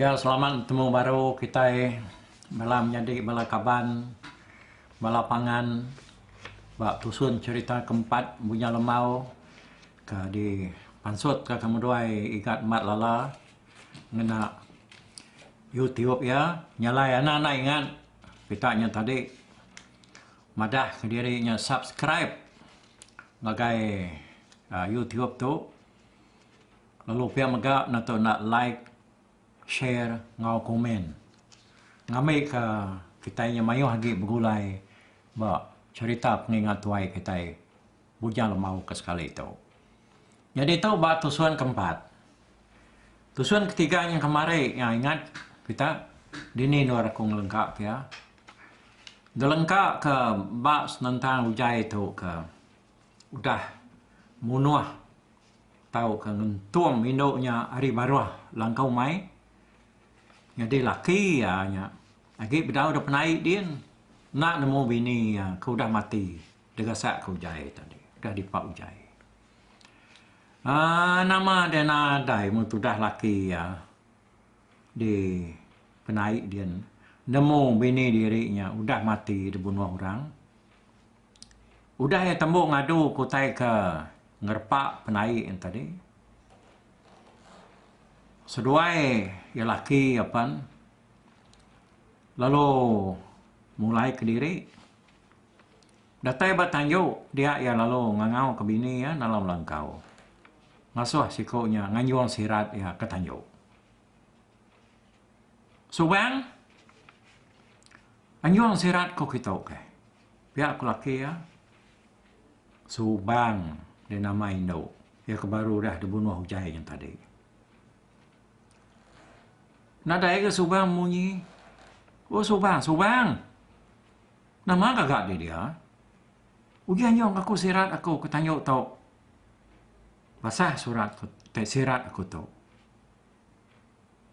Ya selamat betemu baru kitai bala menyadi bala kaban bala pangan ba tusun cherita ke empat Bunya Lembau ke di pansut ka kemuduai Igat Mat Lala ngena youtube iya nyalai anak anak ingat pita nya tadi. Madah kediri nya subscribe ngagai YouTube tu lalu pia mega nyentuk enda like, share enggau komen ngambika kitai nya mayuh agi begulai ba cherita pengingat tuai kitai. Bujang lemau ke sekali tu. Nyadi tu ba tusun ke empat. Tusun ke tiga nyeng kemari nya ingat kita dini endur aku ngelengka ke iya. Ngelengka ke ba senentang ugai tu ke udah munuh tau ke ngentung indu nya ari baruh langkau mai. Nyadi laki iya nya agi bedau dep naik din enda nemu bini iya ke udah mati. Degasak ke ujai tadi. Udah dipa ujai. Um nama dia nadai mun tudah laki iya di penai dia nemu bini diri nya udah mati dibunuh orang. Udah iya tembu ngadu ke utai ke ngerepa penai iya tadi. Seduai iya laki iya pen lalu mulai kediri. Datai ba tanju dia iya lalu ngangau ke bini iya dalam langkau. Ngasuh siku nya nganjung sirat iya ke tanju. Subang anjung sirat ku kitu ke. Pia ku laki iya Subang di nama indu iya ke baru dah dibunuh ujai nya tadi. Nadai ga Subang munyi. O Subang, Subang! Nama gaga diri dia? Uji anyong aku sirat aku ke tanyu tu. Basah surat ku te sirat aku tu.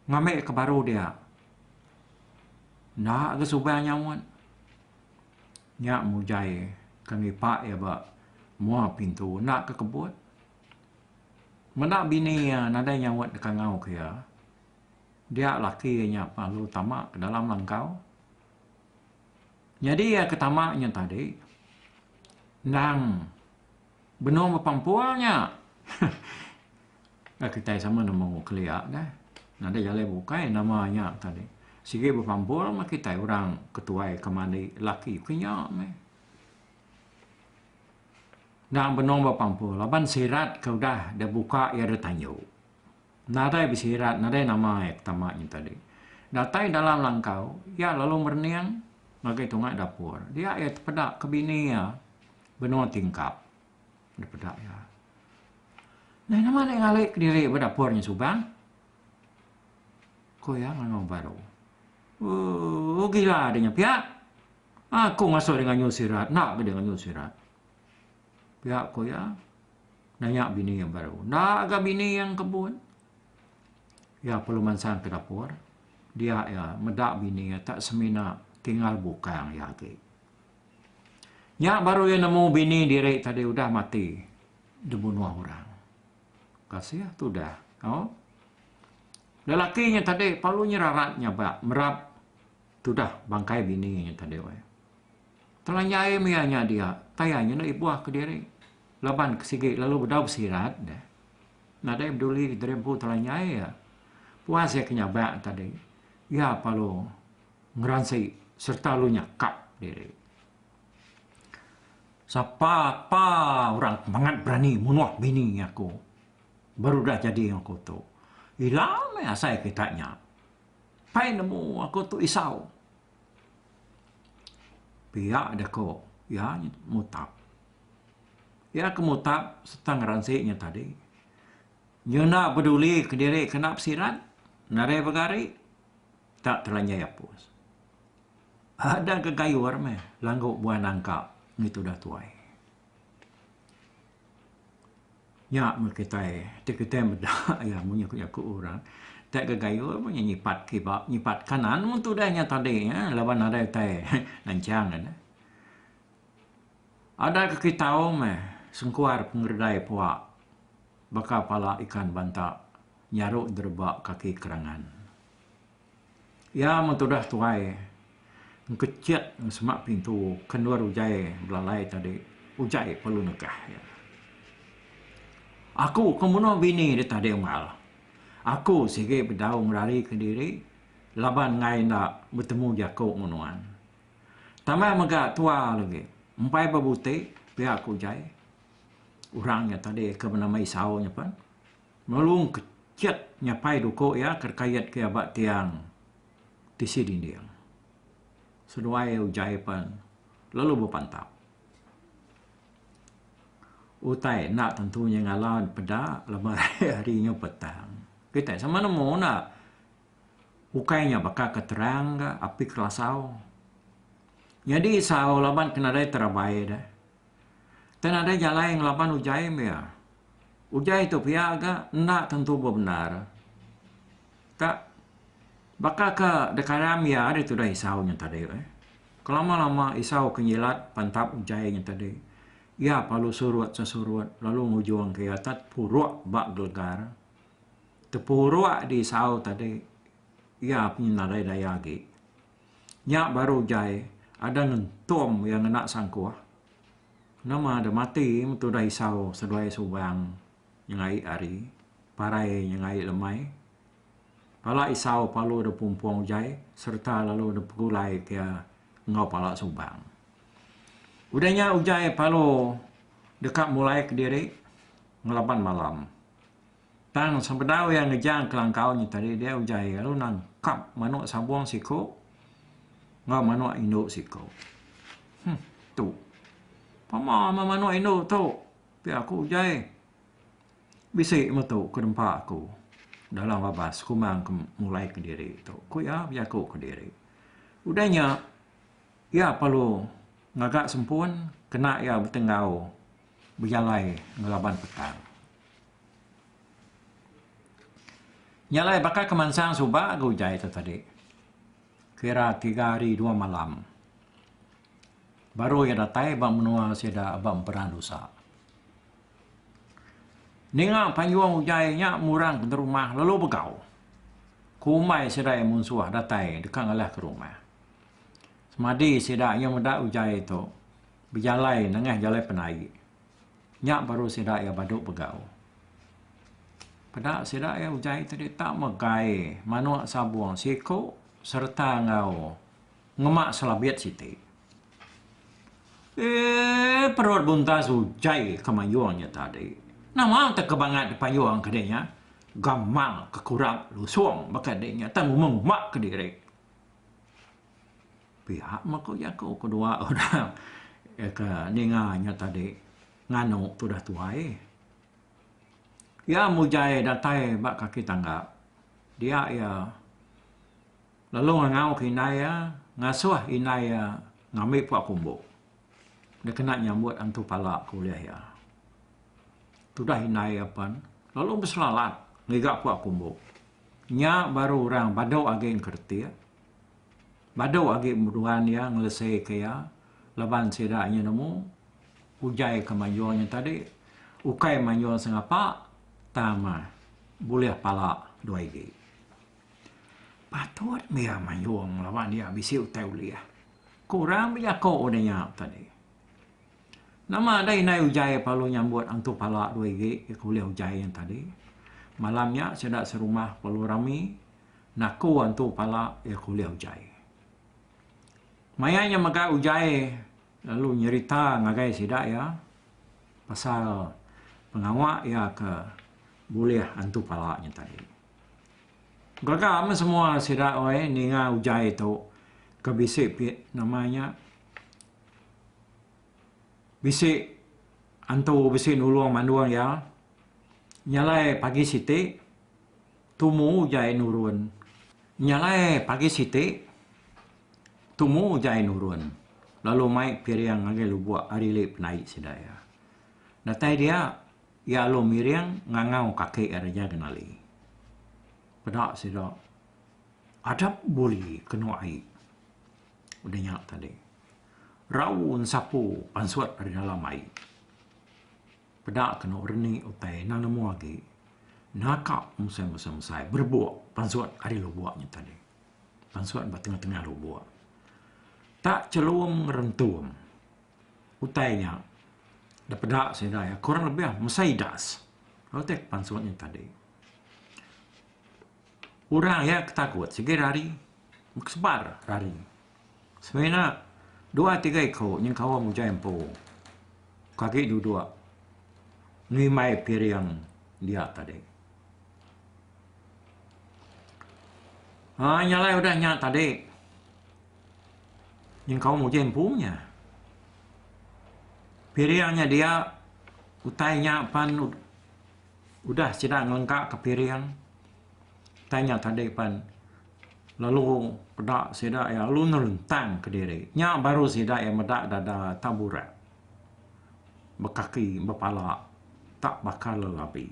Ngambi ke baru dia. Enda ga subai nyaut. Nya mujai ke ngipa iya ba mua pintu enda ke kebut. Meda bini iya nadai nyaut deka ngau ke iya. Dia laki iya nya pengalu tama ke dalam langkau. Nyadi iya ke tama nya tadi endang benung bepampul nya ka kitai sama nemu kelia deh nadai jalai bukai nama nya tadi sigi bepampul meh kitai orang ke tuai ke mandi laki ke nya meh endang benung bepampul laban sirat ke udah dibuka iya ditanyu. Nadai besirat nadai nama iya ke tama nya tadi. Datai dalam langkau, iya lalu merening ngagai tunga dapur. Dia iya tepeda ke bini iya benua tingkap. Dipeda iya, Neh nama dek ngalih kediri ba dapur nya suban? Ku iya ngangau baru. Ooh gila deh nya pia. Aku ngasuh dia nganyu sirat, enda ke dia nganyu sirat. Pia ko iya nanya bini iya baru. Enda ga bini iya ngkebun. Iya perlu mansang ke dapur. Dia iya meda bini iya tak semina tinggal bukang iya agi. Nya baru iya nemu bini diri tadi udah mati dibunuh orang. Kasih tudah. Au. Lelaki nya tadi perlu nyerarat nyabak merap. Tudah bangkai bini nya tadi weh. Telanjai mia nya dia, tayah nya enda ibuh kediri. Laban ke sigi lalu bedau besirat deh. Nadai beduli diri empu telanjai iya. Puas iya ke nyabak tadi, iya palu ngeransi sereta lalu nyakap diri. Sapa pa orang ke mangat berani munuh bini aku baru udah jadi ngaku tu. Ila meh asai kita nya. Pai nemu aku tu isau. Pia aja ko iya mutap. Iya ke mutap serta ngeransi nya tadi. Nyuna beduli kediri kena besiran nadai begari tak teranyai apus. Ada gegayur meh langgu buan nangka ngitu dah tuai. Nya meh kitai ti kitai meda iya munyi ku jaku orang tai ga gayuh meh iya nyipat kiba nyipat kanan mung tudah nya tadi nya laban nadai utai ngancang ne. Ada ke ki tau meh sengkuar pengererai pua baka pala ikan banta nyaru dereba kaki kerangan. Iya meh tudah tuai engkecet ngan semak pintu ke endur ujai belalai tadi. Ujai ke lalu negah iya. Aku ke munuh bini dek tadi mal. Aku sigi bedau ngerarika diri laban enggai enda betemu jaku enggau nuan. Tambah mega tua lagi. Empai bebuti pia ku ujai. Orang iya tadi ke benama Isau nya pen. Nulung kecet nyapai duko iya ke dikayat ke iya ba tiang tisi dinding. Seduai ujai pen lalu bepantap. Utai enda tentu nya ngalau peda laban hari nya petang. Kitai sama nemu enda ukai nya baka ke terang ka api kelasau. Nyadi sau laban ke nadai terabai deh. Tang nadai jalai ngelaban ujai meh iya. Ujai tu pia ga enda tentu bebendar. Ka baka ke dekaram iya ari tudah isau nya tadi eh. Kelama-lama isau ke nyilat pantap ujai nya tadi, iya perlu surut sesurut lalu ngujungka iya tak tepuruk ba gelegar. Tepuruk di isau tadi iya pun nadai daya agi. Nya baru jai ada ngentum iya ngena sangkuh. Nama deh mati tudah isau seduai subang nyengai ari, parai nyengai lemai. Pala isau palu deh pumpung jai sereta lalu deh pegulai ke iya enggau pala subang. Udah nya ujai palu deka mulai kediri ngelaban malam. Tang sebedau iya ngejang kelangkau nyetadi dia ujar iya lalu nangkap manuk sabung siko enggau manuk indu siko. Huh, tu. Pama meh manuk indu tu. Pia aku ujar. Bisi meh tu ke nempa aku dalam babas kumang ke mulai kediri tu, ku iya bejaku kediri. Udah nya iya perlu ngaga sempun kena iya betenggau bejalai ngelaban petang. Nya alai baka ke mansang suba ga utai tu tadi. Kira tiga hari dua malam baru iya datai ba menua sida ba Emperan Dusa. Ninga panjung utai nya murang penderumah lalu begau. Kumbai sida iya munsuh datai deka ngalahka rumah. Semadi sida iya meda utai tu bejalai nengah jalai penai. Nya baru sida iya badu begau. Peda sida iya ujai te dita megai manok sabong siko sereta enggau ngema selabit siti. Eee perut buntas ujai ke mayong nya tadi. Nama te ke bangat dipayong ke dinya? Gamal ke kurap lusong baka dinya te nguma-nguma ke diri. pia meh ku jaku ke dua orang ke ninga nya tadi nganu ke udah tuai. Iya mujai datai ba kaki tangga dia iya lalu ngangau ke indai iya ngasuh indai iya ngambi puak kumbu dek kena nyambut antu pala ke ulih iya. Tudah indai iya pen lalu beselalat ngiga puak kumbu. Nya baru orang badu agi engkerti. Badu agi meruan iya ngeleseka iya laban sida nya nemu ujai ke mayuh nya tadi ukai mayuh sengapa tang bulih pala dua igi. Patut mih iya mayuh laban iya bisi utai ulih. Ku orang bejako udah nya tadi. Nama da indai ujai perlu nyambut antu pala dua igi ulih ujai nya tadi. Malam nya sida serumah perlu rami. Naku antu pala iya ke ulih ujai. Maya iya mega ujai lalu nyerita ngagai sida iya pasal pengawa iya ke bulih antu pala nya tadi. Gaga meh semua sida oy ninga ujai tu ke bisi nama nya bisi antu bisi nulung mandung iya nyalai pagi siti. Tumu ujai nurun. Nya alai pagi siti, tumu ujai nurun lalu mai piring ngagai lubuk ari li penai sida iya. Datai dia, iya alu miring ngangau kaki Raja Genali. Peda sida, Adap buli kenu ai. Udah nya tadi, rau ensapu pansut ari dalam ai. Peda kenu reni utai endang nemu agi naka musai musai musai berebok pansut ari lubok nya tadi. Pansut ba tengah tengah lubok. Tak chelum ngerentum utai nya da peda sida iya kurang lebih mesai das lalu utai pansut nya tadi. Orang iya ketakut sigi rari meh kesebar rari. Semina dua tiga iku nyengkaum ujan empu ke agi duduk ngimbai piring dia tadi. Ai nyalai udah nya tadi nyengkaum ujan empu nya piring nya dia utai nya pan udah sida ngelengkaka piring utai nya tadi pan Lalu peda sida iya lalu nerentang kediri. Nya baru sida iya meda dada taburak bekaki bepala tak baka lelabi.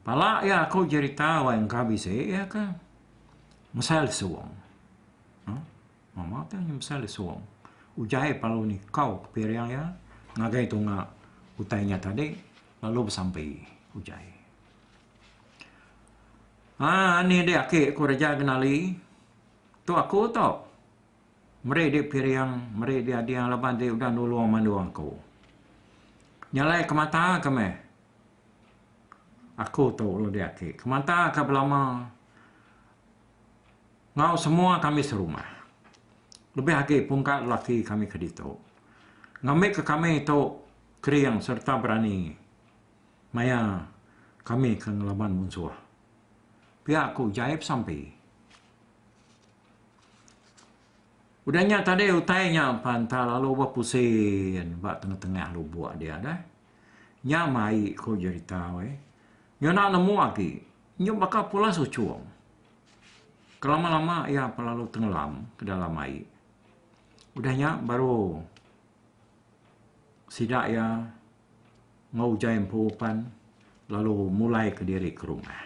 Pala iya aku jerita wai engka bisi iya ke mesai lesung. Huh? Mama ke nya mesai lesung. Ujai pelalu nikau ke piring iya ngagai tunga utai nya tadi lalu besampi ujai. Haa anih dih aki ku reja kenali tu aku tu meri dih piring meri dih ading laban dih udah nulung mandung aku. Nyelai ke mata ke meh aku tu lalu dih aki ke mata ke belama enggau semua kami serumah lebih agi pungka lelaki kami ke ditu ngambi ke kami tu kering sereta berani. Maya kami ke ngelaban munsuh. Pia ku jai pesampi. Udah nya tadi utai nya pan enta lalu ba pusin ba tengah-tengah lubuk dia deh. Nya mai ku jerita weh. Nyu enda nemu agi. Nyu baka pulas uchung. Kelama-lama iya pa lalu tengelam ke dalam ai. Udah nya baru sida iya. Enggau ujar empu pan lalu mulai ke diri ke rumah.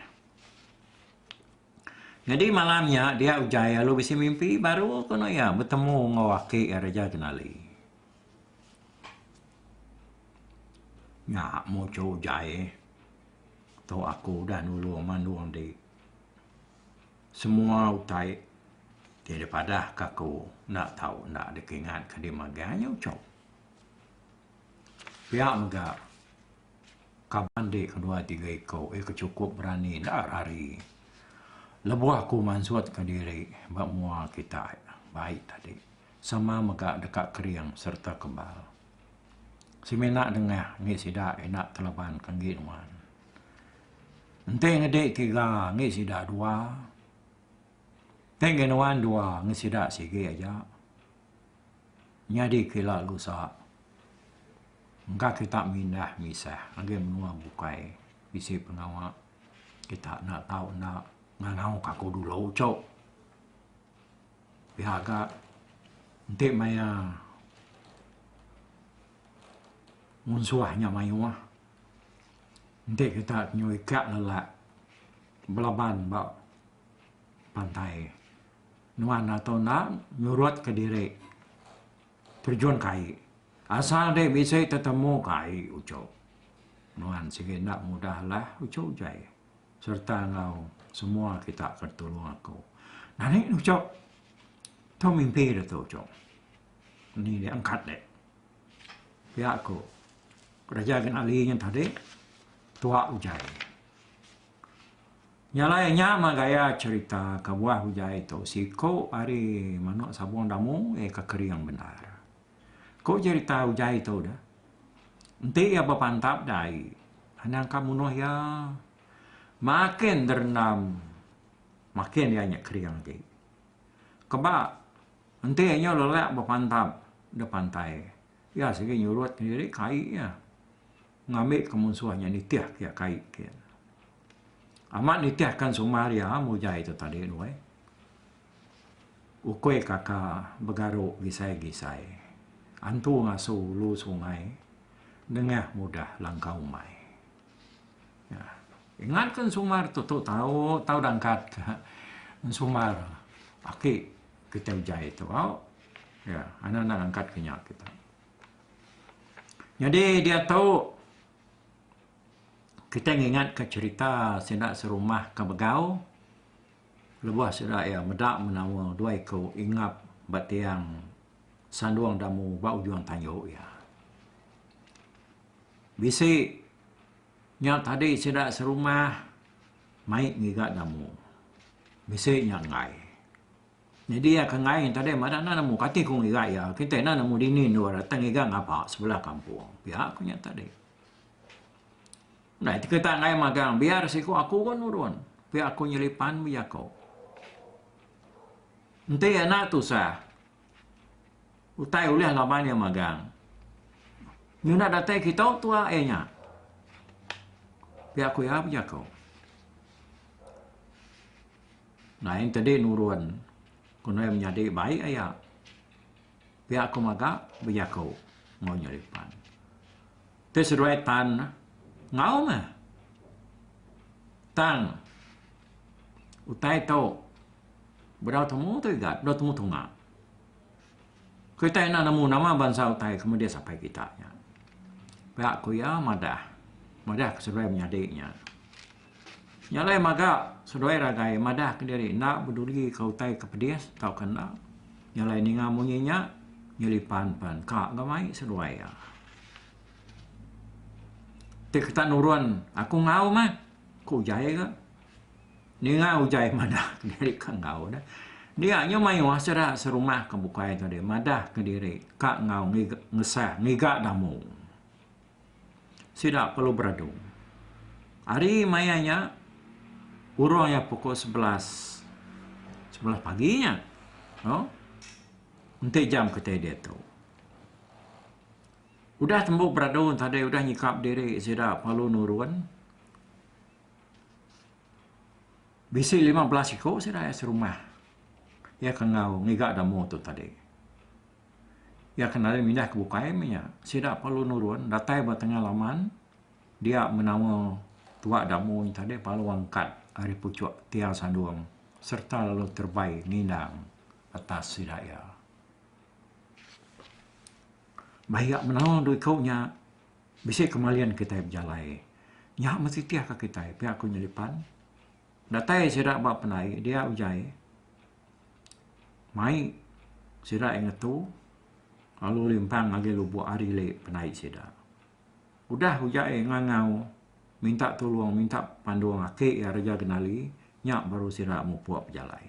Nyadi malam nya dia ujar iya lalu bisi mimpi baru kenu iya betemu enggau aki iya Raja Genali. Nya muchur ujar iya tu aku udah nulung mandung di semua utai ti dipadah ka aku enda tau enda dikingat ka dima agi anyuchur. Pia mega kaban dik kedua tiga iko iko cukup berani enda rari lebuh aku mansut ka diri ba mua kitai baik tadi sama mega deka kering serta kebal. Semina dengah ngi sida ina telaban ka ngi nuan. Enti ngedi tiga ngi sida dua ti ngi nuan dua ngi sida sigi aja. Nyadi ke ila lu sa, engka kita mindah misah ngagai menua bukai bisi pengawa kita enda tau enda ngangau ka ku dulu cuk. Pia ka enti maya munsuh nya mayuh enti kita nyau ika lelak belaban ba pantai. Nuan atau enda nyurut ke diri terjun ke ai. Asal dek bisi tetemu ke ai uchu. Nuan sigi enda mudah lah uchu jai serta enggau semua kita ke tulung aku. Nani ne uchu tu mimpi de tu uchu ni dek angkat dek pia ku kereja Ginali nya tadi tua ujai. Nya alai nya mah gaya cherita kebuah ujai tu siko ari manok sabong damu iya ke kering bendar. Ko cherita ujai tu deh enti iya bepantap dai anang ka munuh iya makin derendam makin iya nya kering agi. Keba enti iya nya lelak bepantap de pantai iya sigi nyurut diri kai iya ngambi ke munsuh nya nitih ke iya kai. Amat nitihkan sumbar iya mujai tu tadi nuai. Ukui kaka begaru gisai-gisai, antu ngasu ulu sungai, nengah mudah langkah umai. Ingat ke sumbar tu tu tau tau dangkat ke sumbar aki kitai ujai tu au. Ya, anak enda angkat ke nya kitai. Nyadi diatu Kitai ngingatka cherita sida serumah ke begau lebuh sida iya meda menawa dua iku ingap ba tiang sandung damu ba ujung tayu iya. Bisi nya tadi sida serumah mai ngiga damu. Bisi nya enggai. Nyadi iya ke enggai nya tadi mada enda nemu kati ku ngiga iya. Kitai enda nemu dini endur dateng ngiga ngapa sebelah kampung. Pia ku nya tadi. Nah, iti kita ngai magang biar siku aku ko nurun. Pia aku nyelipan bija ko. Enti ena tusah. Utai ulih laban iya magang. Nyuna datai kita tua iya nya. Pia aku iya bija ko. Nah, enti di nurun. Kena iya menyadi baik iya. Pia aku maga bejaku enggau inya ri pan. Ti seduai tan neh enggau meh. Tang utai tu bedau temu tu igat bedau temu tunga. Kitai enda nemu nama bansa utai ke meda sapai kita nya. Pia ku iya madah. Madah ke seduai menyadi nya. Nya alai maga seduai ragai madah kediri enda beduli ke utai ke pedis tauka enda. Nya alai ninga munyi nya nyeli pan pan ka ga mai seduai iya. Ti ketak nurun aku enggau mah ku ujai ga ninga ujai madah kediri ka enggau deh. Dia nya mayuh sida serumah ke bukai tadi madah kediri ka enggau ngesah ngiga damu. sida perlu beradu. Hari maya nya kurung iya pukul sebelas sebelas pagi nya no enti jam kitai diatu. Udah tembu beradu tadi udah nyikap diri sida perlu nurun bisi lima belas iku sida iya serumah iya ke enggau ngiga demo tu tadi. Iya ke nadai mindah ke bukai meh iya. Sida perlu nurun datai ba tengah laman dia menawa tuak damu nya tadi palu angkat ari puchuk tiang sandung serta lalu terbai nginang atas sida iya. Bah iya menawa dua iku nya bisi ke malin kitai bejalai. Nya meh titih ka kitai pia ku nyelipan. Datai sida ba pandai dia uja ai Mai sida aye ngetu lalu limpang ngagai lubok ari le penai sida. Udah uja aye ngangau minta tulong minta pandong ake iya reja kenali nya baru sida mupok bejalai.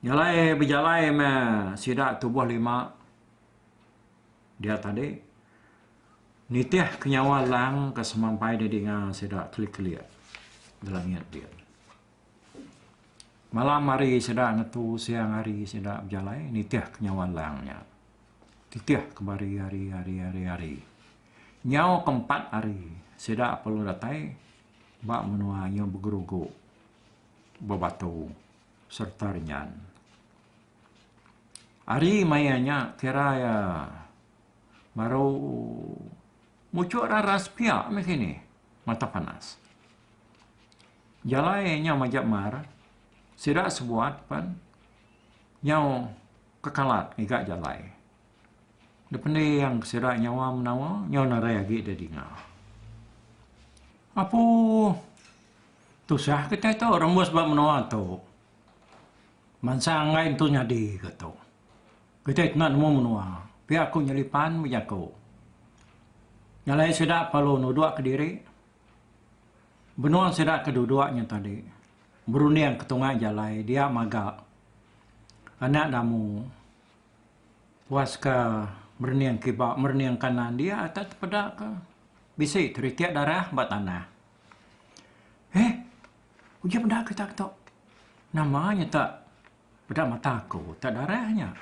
Nyalai bejalai me sida tuboh lima dia tadi nitih ke nyawa lang ke semampai di dinga sida kelik-kelik ngelengit bin. Malam hari sida ngetu siang hari sida bejalai nitih ke nyawa lang nya. Titih ke bari hari hari hari hari. Nyau ke empat hari sida perlu datai ba menua inya begerugu bebatu sereta renyan. Hari maya nya kira iya baru muchuk raras pia meh kinih mata panas. Jalai nyau majak mar, sida sebuat pan nyau kekalat ngiga jalai. Dipending sida nyawa menawa nyau narai agi da dinga. Apu tusah kitai tu rembus ba menoa tu. Mansa anggai entu nyadi ka tu. Kitai kena nemu menoa. Pia ku nyelipan bejaku. Jalai sida perlu nudok kediri. Benung sida ke duduk nya tadi berunding ke tungah jalai dia maga anak damu puaska merening kiba merening kanan dia ata tepeda ke bisi kerikit darah ba tanah. Heh uji meda kita ke tu nama nya tak peda mata aku tak darah nya.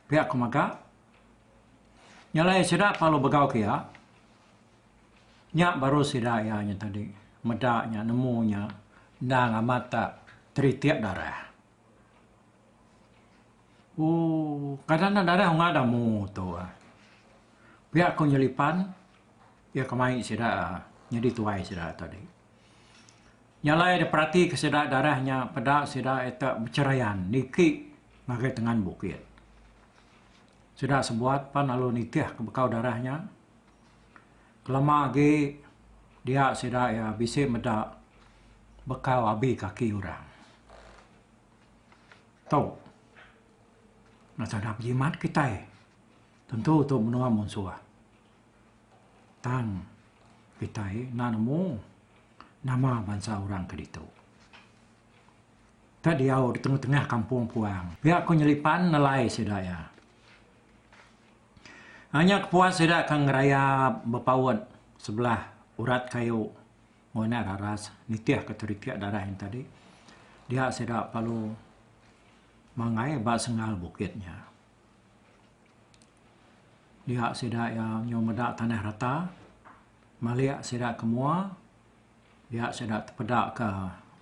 Pia ku mega. Nya alai sida palu begau ke iya. Nya baru sida iya nya tadi meda nya nemu nya endang amat tak teritik darah. Ooh kada enda darah unga dah mu tu. Pia ku nyelipan iya kemai sida nyadi tuai sida tadi. Nya alai deh peratika sida darah nya peda sida ita beceraian niki ngagai tengan bukit. Sida sebuat pan lalu nitih ke bekau darah nya. Kelama agi dia sida iya bisi meda bekau abi kaki orang. Tu nasada bejimat kitai tentu tu menua munsuh. Tang kitai enda nemu nama bansa orang ke ditu. Ka diau di tengah-tengah kampung puang. Pia ko Nyelipan nelai sida iya. Hanya kepuas sida ke ngeraya bepaut sebelah urat kayu ngoinak raras nitih ke terikik dadah nya tadi. Dia sida perlu mangai ba sengal bukit nya. Dia sida iya nyu meda tanah rata, malik sida ke mua, dia sida tepeda ke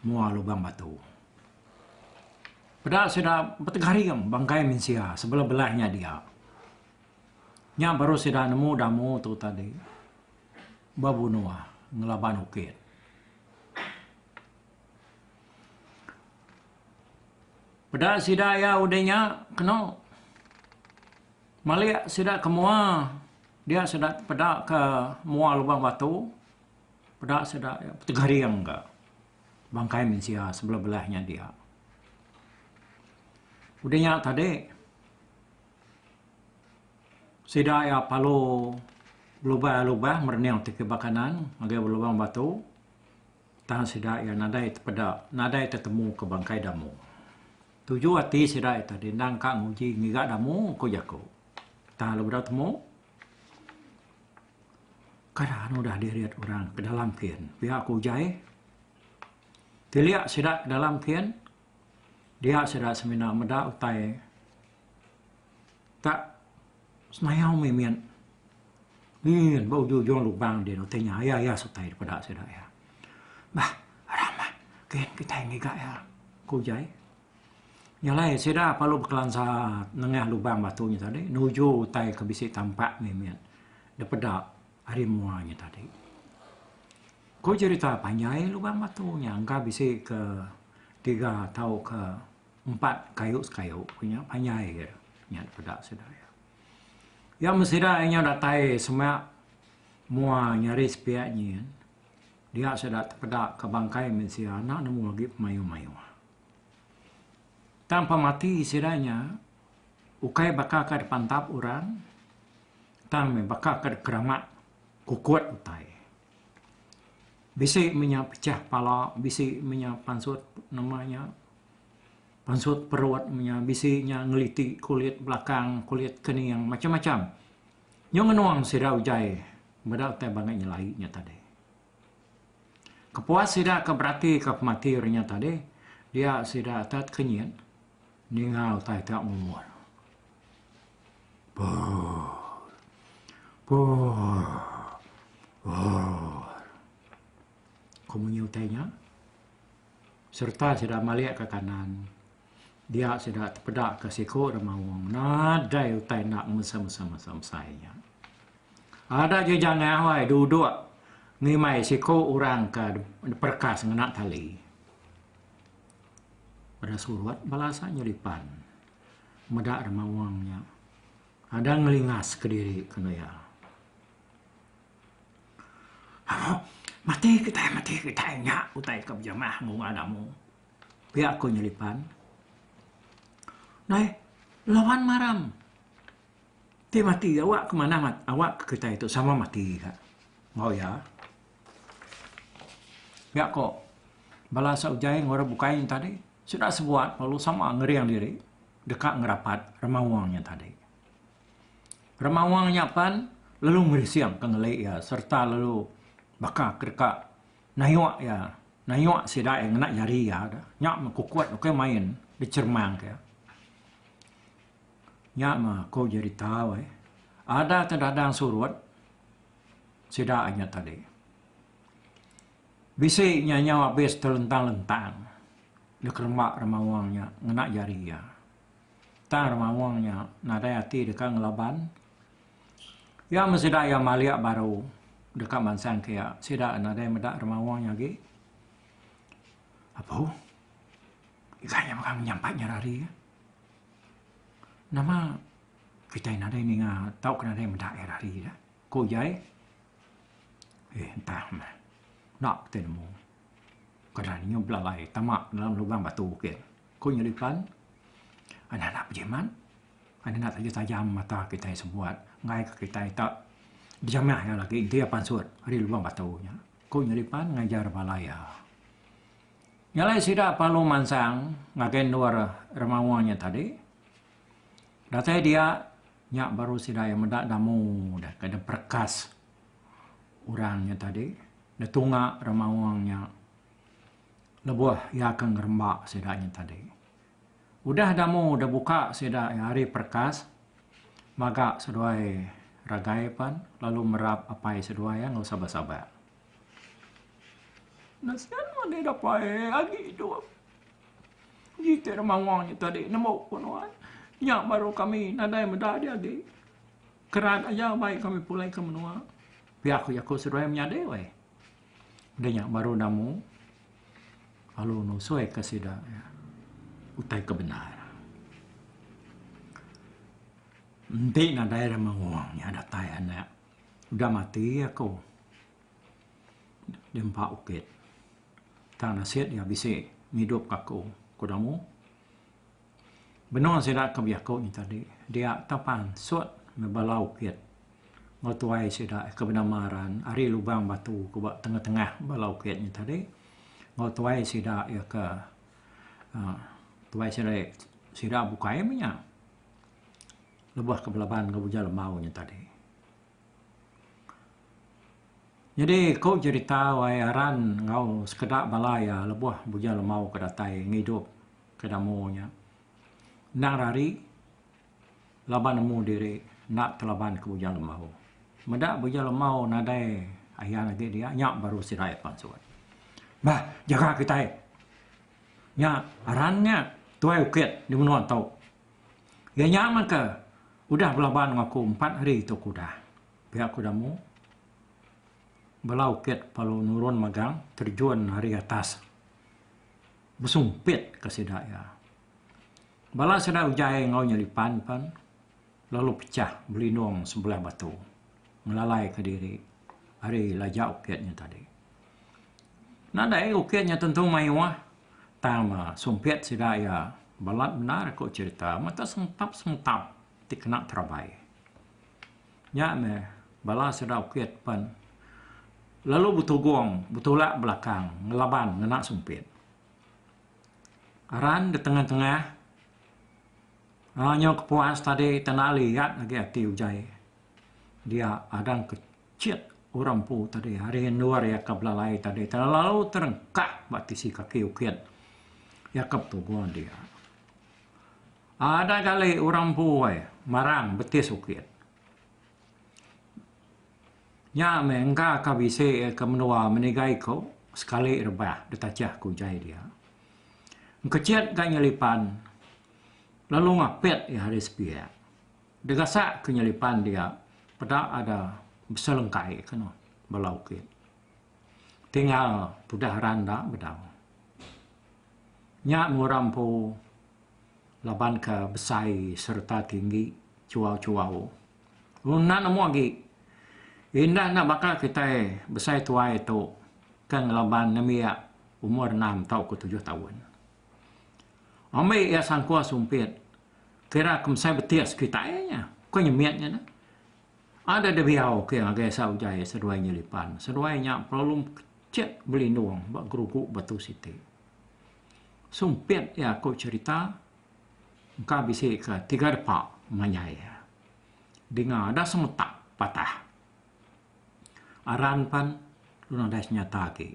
mua lubang batu. Peda sida betegaring bangkai mensia sebelah belah nya dia. Nya baru sida nemu damu tu tadi bebunua ngelaban ukit. Peda sida iya udah nya keno malik sida ke mua dia sida peda ke mua lubang batu peda sida petegering ka bangkai mensia sebelah belah nya dia. Udah nya tadi sida iya palu lubang lubang merening ti kiba kanan ngagai lubang batu. Tang sida iya nadai tepeda, nadai tetemu ke bangkai Damu. Tuju ati sida iya tadi endang ka nguji ngiga Damu, ku jaku. Tang lalu bedau temu, keadaan udah dirit orang ke dalam kin. Pia ku Ujai, tilik sida ke dalam kin. Dia sida semina meda utai ka senayau mih mit. Nyin ba ujung-ujung lubang din utai nya iya iya sutai dipeda sida iya. Bah, ramah kin kitai ngiga iya, ku Jai. Nya alai sida lalu bekelansa nengah lubang batu nya tadi nuju utai ke bisi tampak mih mit dipeda ari mua nya tadi. Ko jerita panjai lubang batu nya engka bisi ke tiga tauka empat kayu sekayu ku nya panjai aja nya dipeda sida iya. Iya meh sida inya datai semina mua nyari sepiak nyin dia sida tepeda ke bangkai mensia enda nemu agi pemayuh-mayuh. Tang pemati sida nya ukai baka ke dipantap orang tang meh baka ke dikeramat kukut utai. Bisi menya pechah pala bisi menya pansut nama nya pansut perut menya bisi nya ngeliti kulit belakang kulit kening macam-macam nyau ngenung sida utai meda utai bangai nyelai nya tadi. Kepuas sida ke beratika pematir nya tadi dia sida atat kenyit ninga utai tu ngumur. Ko munyi utai nya, sereta sida malik ka kanan. Dia sida tepeda ka siko da maung nadai utai enda mesai-mesai-mesai-mesai nya. Ada ji jangah awai duduk ngimbai siko orang ka perekas ngena tali. Peda surat bala asa nyelipan. meda rema wang nya ada ngelingas kediri kena iya. Amu, mati kitai mati kitai nya utai ke bejamah mung ngaga amu. Pia ko Nyelipan. Dai, lawan maram. Ti mati awak ke manah awak ke kitai tu sama mati ka. Ngau iya. Pia ko bala asa ujai ngorap bukai nya tadi sida sebuat lalu sama ngering diri deka ngerapat remawang nya tadi. Remawang nya pan lalu ngerising ke ngeli iya serta lalu baka ke deka nayok iya nayok sida iya ngena jari iya dah. Nya mah kukut ukai main dicheremang ke. Nya mah ko jerita weh. Ada ke dadang surut. Sida nya tadi. Bisi nya nyau abis telentang-lentang dekeremba Remawang nya ngena jari iya. Tang Remawang nya nadai ati deka ngelaban. Iya men sida iya malik baru deka mansang ke iya, sida nadai meda Remawang nya agi. Apu, iga nya mega menyampat nyerari. Nama Kitai nadai ninga tauka nadai meda iya hari ila, ku Jai. Eh entah meh. Enda ku kitai nemu. Kereja inya belalai tama dalam lubang batu bukit, ku Nyelipan. Anak enda bejimat. Anak enda tajam tajam mata kitai sebuat ngaika kitai tak bejamah iya lagi enti iya pansut ari lubang batu nya, ku Nyelipan ngajar bala iya. Nya alai sida parlu mansang ngagai endur remawa nya tadi. Datai dia, nya baru sida iya meda damu deh ke diperekas orang nya tadi, ditunga orang maong nya lebuh iya ke ngeremba sida nya tadi. Udah damu udah buka sida iya hari perekas, maga seduai ragai pan lalu merap apai seduai iya enggau sabar-sabar. Nasihat mani dapai agi tu. Ngitik rumah wang nya tadi nemu ku nuan. Nya baru kami nadai meda dia agi. Kerat aja bai kami pulai ke menua. Pia ku jaku seduai menyadi weh. Udah nya baru namu lalu nusui ke sida utai ke bendar. Enti nadai rumah wang nya datai anak udah mati aku di empa bukit. Tang nasit iya bisi ngidupka aku, ku Damu. Benung sida ke bejaku nya tadi, dia tau pansut meh bala ukit enggau tuai sida ke benama Ran ari Lubang Batu ke ba tengah-tengah bala ukit nya tadi enggau tuai sida iya ke uhh tuai sida iya ke sida bukai meh nya lebuh ke belaban enggau Uja Lembau nya tadi. Nyadi ku jerita wai aran enggau sekeda bala iya lebuh Bujang Lemau ke datai ngidup ke Damu nya. Endang ira ari laban nemu diri enda telaban ke Bujang Lemau. Meda Bujang Lemau nadai ayan agi dia nya baru sidai pansut. Bah jaga kitai. Nya aran nya Tuai Ukit di menua ento. Iya nya maka udah belaban enggau aku empat hari tu aku udah. Pia aku udah mu bela ukit lalu nurun magang terjun ari atas besumpit ke sida iya. Bala sida ujai enggau nya lipan pan lalu pechah belindung sebelah batu ngelalai ke diri ari laja ukit nya tadi. Nadai uke nya tentu mayuh tang sumpit sida iya balat bendar ku cherita mata sentap sentap ti kena terabai. Nya meh bala sida uke ti pen lalu betugong betulak belakang ngelaban ngena sumpit. Aran da tengah tengah aaa nyau kepuas tadi tanda liat agi ati ujai dia agang ke. Chek orang empu tadi ari endur iya ke belalai tadi telalu terengkak ba tisi kaki ukit iya ke betubuh dia. Ada kali orang empu ai marang betis ukit. Nya meh engka ka bisi iya ke menua meniga iko sekali rebah ditachah ke ujai dia. Engkechet ka nyelipan lalu ngapit iya ari sepiak. Degasak ke nyelipan dia peda ada beselengkai ke noh bala ukit. Tinggal tudah randa bedau. Nya ngura empu laban ke besai sereta tinggi chuau-chuau. Enda nemu agi. Indah enda baka kitai besai tuai tu ke ngelaban nembiak umur enam tauka tujuh taun. Ambi iya sangkua sumpit. Kira kemsai betis kitai nya, ku nya mit nya neh. Ada diau ke ngagai sa ujaie seduai nyelipan. Seduai nya perlu kecek belindung ba gerugu batu siti. Sumpit iya ku cherita engka bisi ke tiga depa manjai iya. Dinga ada semetak patah. Aran pen nadai senyata agi.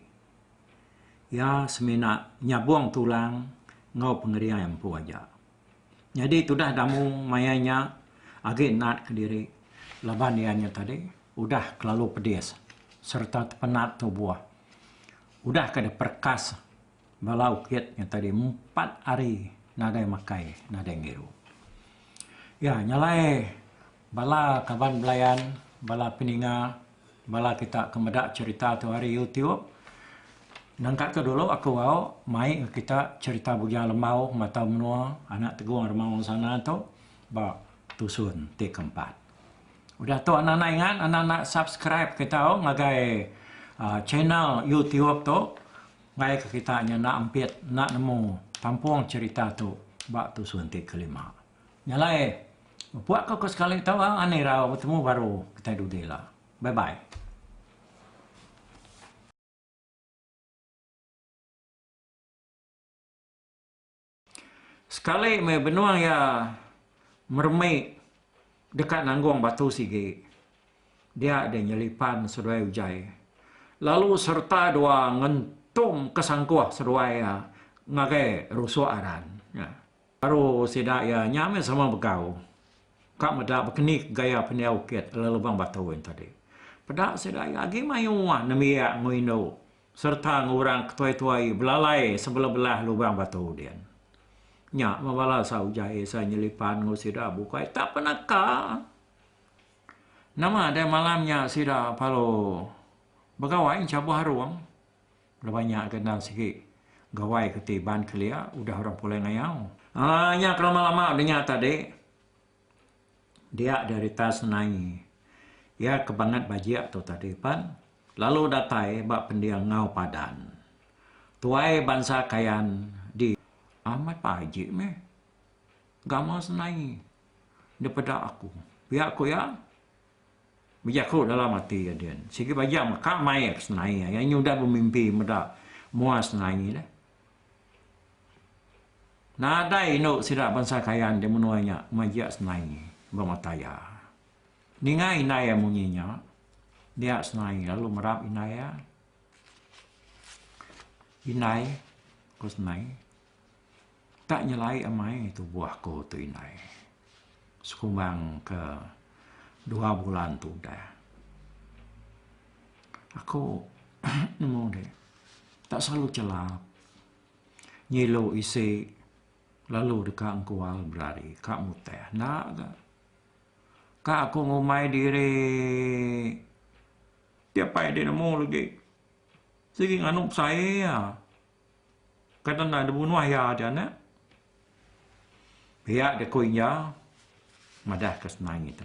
Iya semina nyabung tulang enggau pengeriai empu aja. Nyadi tudah Damu mayai nya agi nat kediri laban iya nya tadi udah kelalu pedis sereta tepenat tubuh. Udah ke diperekas bala ukit nya tadi empat hari nadai makai nadai ngirup. Iya nyalai. Bala kaban belayan, bala peninga, bala kita ke meda cherita tu ari YouTube. Nangka tu dulu aku au mai ngan kita cherita Bujang Lembau Matau Menua, anak Tegong Remau Ensana tu ba tusun ti ke empat. Udah tu anak anak ingat anak anak subscribe kita au ngagai aaa channel YouTube tu ngagai ke kita nyana empit enda nemu kampung cherita tu ba tusun ti ke lima. Nya alai. Pua ko ko sekali tau ha ani irau betemu baru kitai dudi ila. Bye bye. Sekali meh benung iya meremi deka nanggung batu sigi dia deh nyelipan seduai ujai lalu sereta dua ngentum ke sangkuh seduai iya ngagai rusuk aran nya. Baru sida iya nya meh sama begau. Ka meda bekenik gaya pendiau kit lelebang baton nya tadi. Peda sida iya agi maioh uah nembiak enggau indu sereta enggau orang ke tuai-tuai belalai sebeleh-beleh lubang batu din. Nya meh bala sa ujai sa nyelipan enggau sida bukai tak pernah ka. Nama deh malam nya sida palu begawai enchabuh arung. Lebuh nya ke endang sigi gawai ke ti Iban kelia udah orang pulai ngayau. Aaa nya ke lama lama udah nya tadi. Dia derita senai ia ke bangat bajik tu tadi pan lalu datai ba pendiau ngau padan. Tuai bansa kayan di amat bajik meh gamal senai depeda aku pia ku ia. Bejaku dalam ati iya din, sigi baja mah ka maie ke senai ai, anyu udah bemimpi meda mua senai dah. Nadai indu sida bansa Kayan di menua nya majak senai ba mata iya. Ninga indai iya munyi nya, dia senai lalu merap indai iya. Indai, ku senai. Ka nyelai amai tubuh ku tu indai sekumbang ke dua bulan tu udah. Aku nemu di tak selalu chelap ngilu isi lalu deka engkual berari ka mutih enda ka. Ka aku ngumbai diri ti apai dek nemu lagi sigi nganu pesaie. Kan enda dibunuh iya aja nya. Pia deka inja madahka senang ngitu.